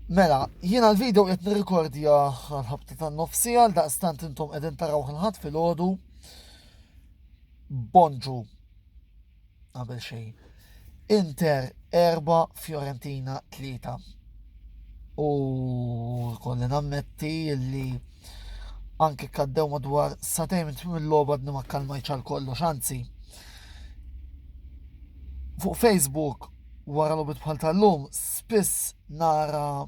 Mela, jiena l-video qed nirrikordja għal-ħabta tan-nofsi għal daqstant intom qegħdin taraw ħanħat fil-ħodu. Bonġu. Qabel xejn. Inter 4 Fiorentina 3. U kolli nammetti li anke kaddew madwar satejn mill-logħba d ma kalmajċ għal kollox, anzi. Fuq Facebook Wara logħbiet bħal tal-lum spiss nara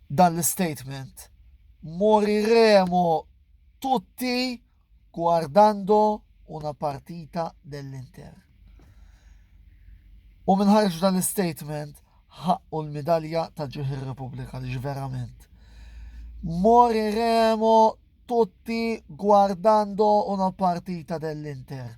dan l-istatement. Moriremo tutti guardando una partita dell-Inter. U minħarġ dan l-istatement ħaqqu l-medalja ta' ġuħ ir-Repubblika li verament. Moriremo tutti guardando una partita dell-Inter.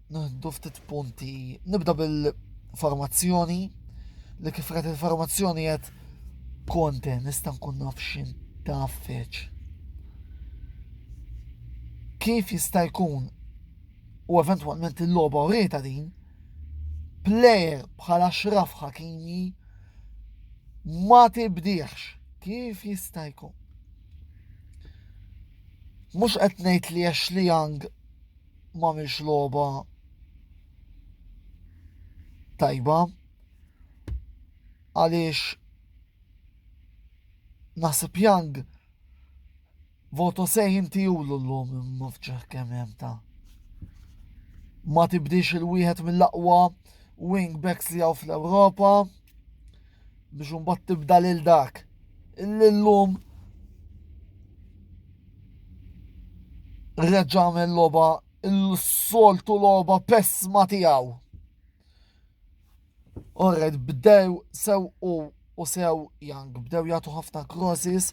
Nieħdu ftit punti. Nibda bil-formazzjoni li kif qed il-formazzjoni qed konte nista' nkun naf x'in taf feċ. Kif jista' jkun u eventwalment il-logħba u rita din plejer bħala xraf ħakimi ma tibdiħx kif jista' jkun. Mhux qed ngħid li Ashley Young ma mhix logħba tajba għaliex naħseb Young voto se jinti u l-lum mafċeħ kemm hemm ta' ma tibdix il-wieħed mill-aqwa wingbacks li għaw fl-Ewropa biex un tibda lil dak li llum reġa' għamel logħba l-soltu logħba pessma tiegħu. Orred bdew sew u u sew jang bdew jagħtu ħafna crosses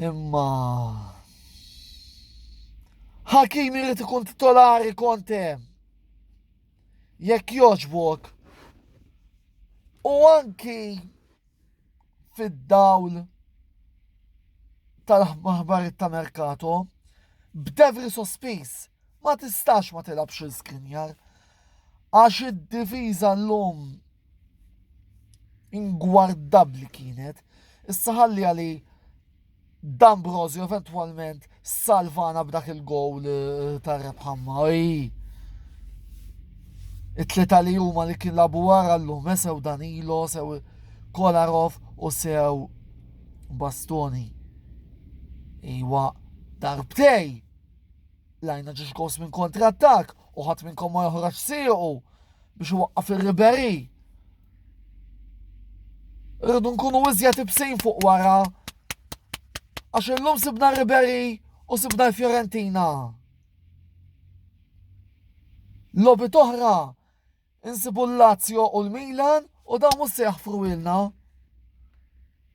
imma Hakim irid ikun titolari konte. Jekk jogħġbok u anki fid-dawl tal-aħbarijiet ta' merkato, b'devri sospiż ma tistax ma tilabx il-skrinjar għax id-difiża l-lum ingwardabbli kienet, issa ħalli għali D'Ambrosio eventwalment salvana b'dak il-gowl eh, ta' rebħa maj. It-tlieta li huma li kien labu wara llum eh, sew Danilo, sew Kolarov u sew Bastoni. Iwa darbtej lajna ġiex gos minn kontrattak u ħadd minn komma joħroġ siequ biex waqqaf ir-Riberi. Irridu nkunu iżjed ibsin fuq wara. Għax illum sibna Ribery u sibna Fiorentina. Lobi toħra insibu l-Lazio u l-Milan u dawn mhux se jaħfru ilna.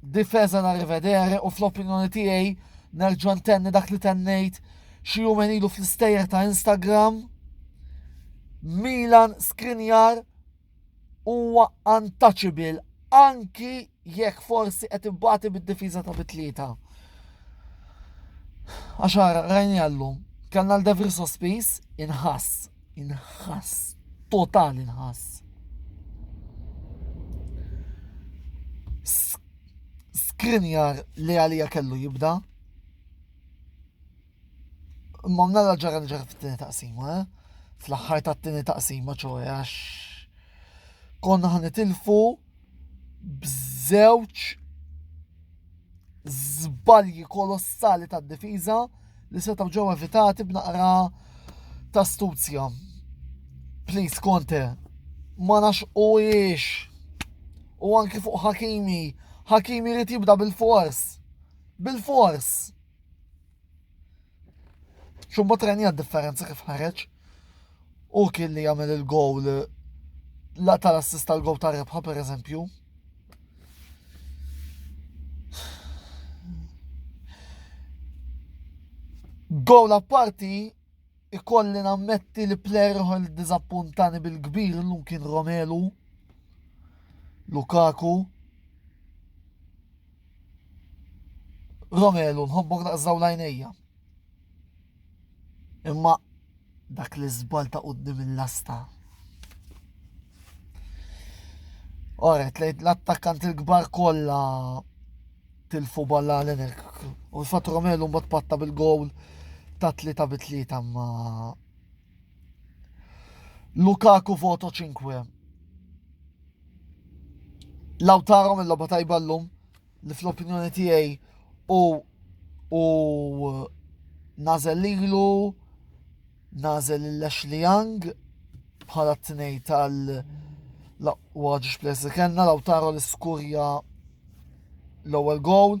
Difesa na rivedere u fl-opinjoni tiegħi nerġa' ntenni dak li tennejt xi jumejn ilu fl-istejjer ta' Instagram. Milan Skriniar huwa untouchable anki jekk forsi qed ibbati bid-difiża ta' bitlieta. Għaxar, rajni għallum, kellna l-Devri sospiż inħass Inħass, total inħass. Skrinjar li għalija kellu jibda. Ma mnara ġara ġara fit-tini taqsima, eh? fl-axħar ta' t-tini taqsima ċoħe għax konna ħanitilfu b'żewġ żbalji kolossali tad-difiża li setgħu ġew evitati b'naqra ta' stuzja. Please Conte, ma nax u jiex. U anki fuq Hakimi, Hakimi li tibda bil-fors. Bil-fors. Xumbat rajni għad differenza kif ħareġ u kien li jagħmel il-gowl la tal-assist tal-gowl ta' rebħa per eżempju. Gowl apparti ikolli nammetti li player ħol dizappuntani bil-kbir l-lum kien Romelu, Lukaku, Romelu, nħobbok daqs daw l-għajnejja. Imma dak li żbal ta' qudiem il-lasta. Oret, lejt l-attakkant il-kbar kollha tilfu balla l-enek. U fatt Romelu mbagħad patta bil-gowl ta' tlieta bi tlieta ma Lukaku voto 5. Lautaro mill loba tajba l-lum li fl-opinjoni tiegħi u u nażel lilu nażel l-Ashley Young bħala t-tnej tal- laqwa ġiġ plessi kellna Lautaro l-iskurja l-ewwel gowl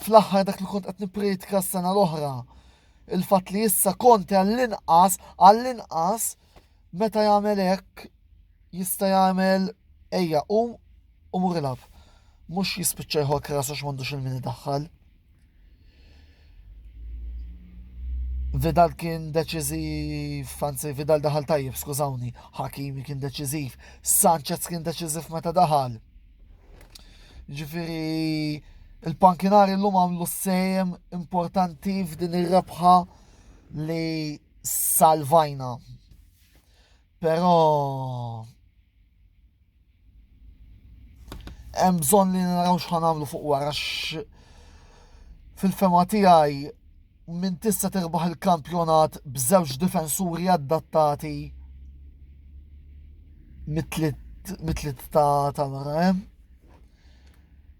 Fl-aħħar dak li kont qed nippriedka s-sena l-oħra, il-fatt li issa Conte għall-inqas, għall-inqas, meta jagħmel hekk jista' jagħmel ejja u u mur ilaf. Mhux jispiċċa jħor krasu x'mandux il-min daħħal. Vidal kien deċiżiv, anzi Vidal daħal tajjeb, skużawni, Hakimi kien deċiżiv, Sanchez kien deċiżiv meta daħal. Ġifiri, il-pankinari l-lum għamlu s-sejem importanti f'din ir-rebħa li salvajna. Pero hemm bżonn li naraw x'ħan nagħmlu fuq wara fil-fema tiegħi Min tista' tirbaħ il-kampjonat b'żewġ difensuri adattati mit-tliet ta' wara hemm.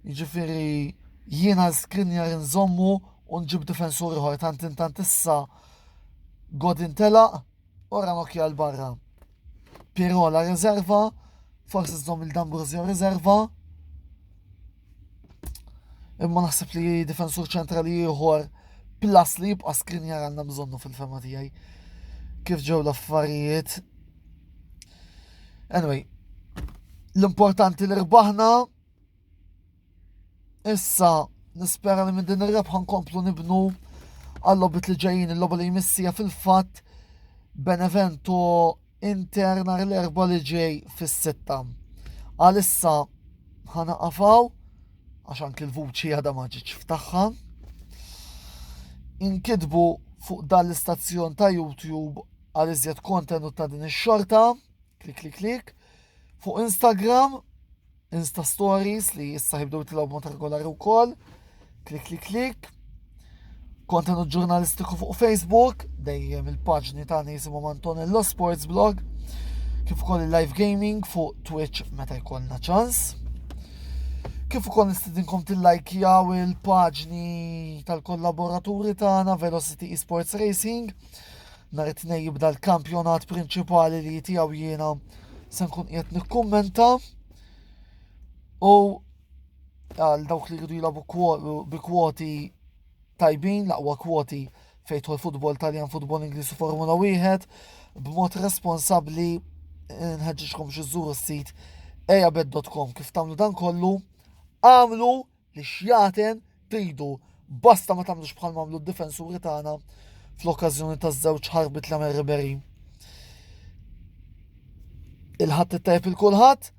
Jiġifieri jiena l-skrinjar nżommu u nġib difensur ieħor tant intant issa Godin telaq Ora nokja l-barra. Pirola rezerva, forsi żżomm il-D'Ambrosio rezerva. Imma naħseb li difensur ċentrali ieħor plus li jibqa' skrinjar għandna bżonnu fil-fema tiegħi. Kif ġew l-affarijiet. Anyway, l-importanti li rbaħna Issa, nispera li minn din ir-rebħa nkomplu nibnu għal-logħbiet li ġejjin, il-logħba li jmissija fil-fatt Benevento Inter nhar l-erba' li ġej fis-sitta. Għalissa ħana qafaw għax anki l-vuċi għadha ma ġietx f'tagħha. Inkitbu fuq dan l-istazzjon ta' YouTube għal iżjed kontenut ta' din ix-xorta, klik klik klik, fuq Instagram Insta Stories li issa jibdu jitlaw mod regolari wkoll. Klik klik klik. Kontenut ġurnalistiku fuq Facebook, dejjem il-paġni tagħna jisimhom Antonello Sports Blog, kif ukoll il-live gaming fuq Twitch meta jkollna ċans. Kif ukoll nistidinkom tillajkjaw il-paġni tal-kollaboraturi tagħna Velocity Esports Racing Nhar it-Tnejn jibda l-kampjonat prinċipali li tiegħu jiena se nkun qiegħed nikkummenta u għal dawk li jridu jilagħbu bi kwoti tajbin, laqwa kwoti fejtħol futbol taljan, futbol Ingliż u Formula 1 b'mod responsabbli nħeġġiġkom xi żuru s-sit ejabed.com kif tagħmlu dan kollu għamlu li xjaten tridu basta ma tagħmlux bħal mamlu d-difensuri tagħna fl-okkażjoni ta' żewġ ħarbit l għamel Ribery. Il-ħadd it-tajb il-kulħadd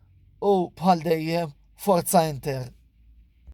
u bħal dejjem forza Inter.